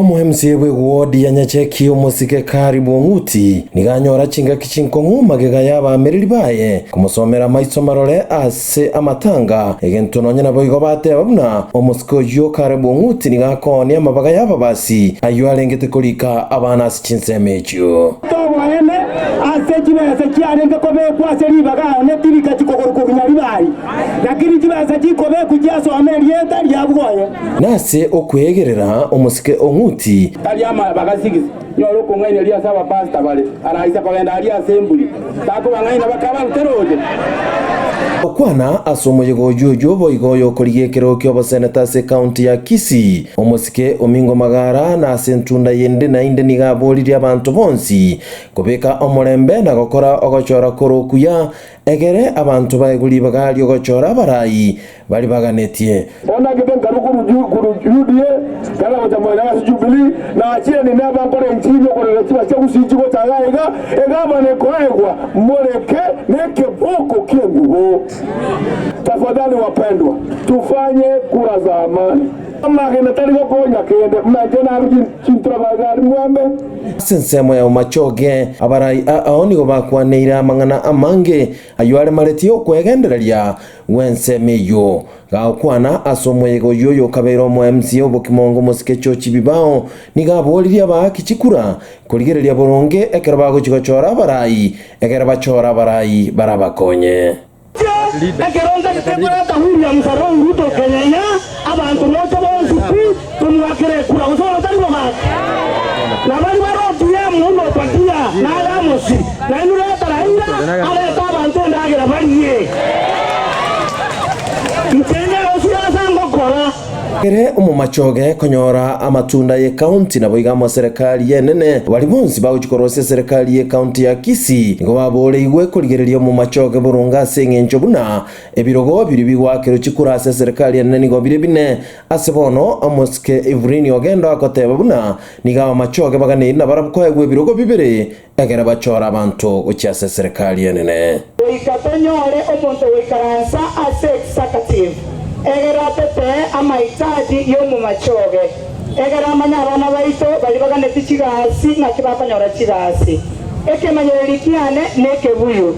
Omoemsie bw'eguodi ya Nyacheki omosike Kari Bong'uti nigo anyora chingaki chinkong'u magega y'abaamereri baye komosomera amaiso marore ase amatanga, egento nonya naboigo bateba buna omosike oyio Kare Bong'uti nigo akoonia amabaga y'ababasi ayio arengete korika abana ase chinsemo echio. Toboene ase chibesa chiarenge kobekwa ase ribaga onye tirika chikogoru korwa Nyaribari, lakini chibesa chikobekwa chiasome erieta riabwo oye. Nase okweegerera omosike o Ng'uti. Tari amaya bagasigisi nyore okong'aini aria ase abapasita bare, araise kogenda aria ase emburi, takobang'aina bakabaruta roche. Gokwana ase omoyegoji oyio boigo oyokorigia ekerogo ki'oboseneta ase ekaunti ya Kisii, omosike Omingo Magara nase entunda yende naende nigo aboririe abanto bonsi kobeka omorembe na gokora ogochora kor'okuya Ekere abanto baegwe ribaga ri'ogochora abarai baria baganetie. Onagete nkaru korwa Yudea, kana gocha Moenayo ase Jubilii, na achire ninde abankore enchiri y'okorera chibasi chia Gusiichi gocha iga iga, egamana ekoegwa Moleke na ekeboko ki'engubo. Tafadhali wapendwa, tufanye kura za amani. Amagena tari gokonya kende, buna inche naru chintura baigari mwembe. Ase ensemo yao machoge, abarai ao nigo bakwaneire amang'ana amange ayio aremeretie okwegendereria gw'ensemo eyio. Gagokwana ase omoyega oyio oyokabeire omoemsi obokimongo omosike Chochi Bibao nigo aboririe abaaki chikura korigereria boronge ekero bagochia gochora abarai, egere bachore abarai barabakonye. Ekerombero kia Brother William Samoei Ruto Kenyaiya abanto mocha bonsi pi tomoakere ekura gose otari mogaka na bari bare ODM buna Obadia nare amosi nainwe reta Raila arete abanto endagera barie nche enyarosie ase angokora Ere omomachoge konyora amatunda y'ekaunti naboigo amaserekari y'enene. Baria bonsi bagochia korosia eserekari y'ekaunti ya Kisii nigo babooreigwe korigereria omomachoge boronge ase engencho buna ebirogo biria bigoakerwa chikura ase eserekari enene nigo bire bine. Ase bono omosike Evrine ogenda oakoteba buna nigo abamachoge baganeiri nabarabwo kwaegwa ebirogo bibere Ekero bachora abanto gochia ase eserekari enene. Goika tonyore omonto goikaransa ase executive, egere atotee amahitaji y'omomache obe, egere amanye abana baito baria baganetie chigasi ng'aki bakonyora chigasi. Ekemanyererio kiane nekebuyu.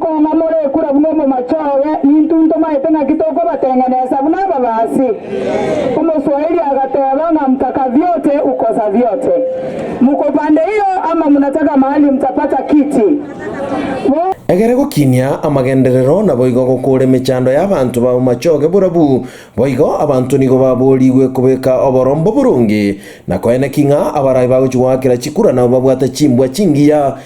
Koong'a morekura buna omomachoowe, nintwe ntomaete ng'aki tokobateng'enesa buna ababaasi. Omoswahili agateeba ng'a mtaka vyote ukosa vyote. Muko pande hiyo ama mnataka mahali mtapata kiti. Bo. Egere gokinia amagenderero naboigo gokoora emechando y'abanto b'abamachooge borabu boigo abanto nigo baboorigwe kobeka oborombo boronge na koeneki ng'a abarabe bagochi goakera chikura nabo babwate chimbwa chingiya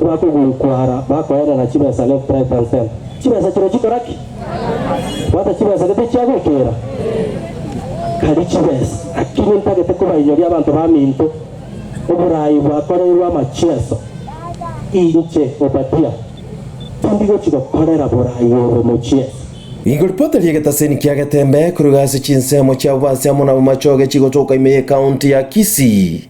Bakogurukwa ara bakoerera chibesa left right and center. Chibesa chire chikora ki? Bwata chibesa gete chiagoikera? Tari chibesa. Naki nintagete kobainyoria abanto baminto oborai bwakoreirwe amachieso. Inche, Obadia, tindi gochi gokorera borai obo mochieso. Igo ripota ri'egetaseni kia Getembe koruga ase chinsemo chiabo bansi amo nabamachoge chigotoka ime y'ekaunti ya Kisii.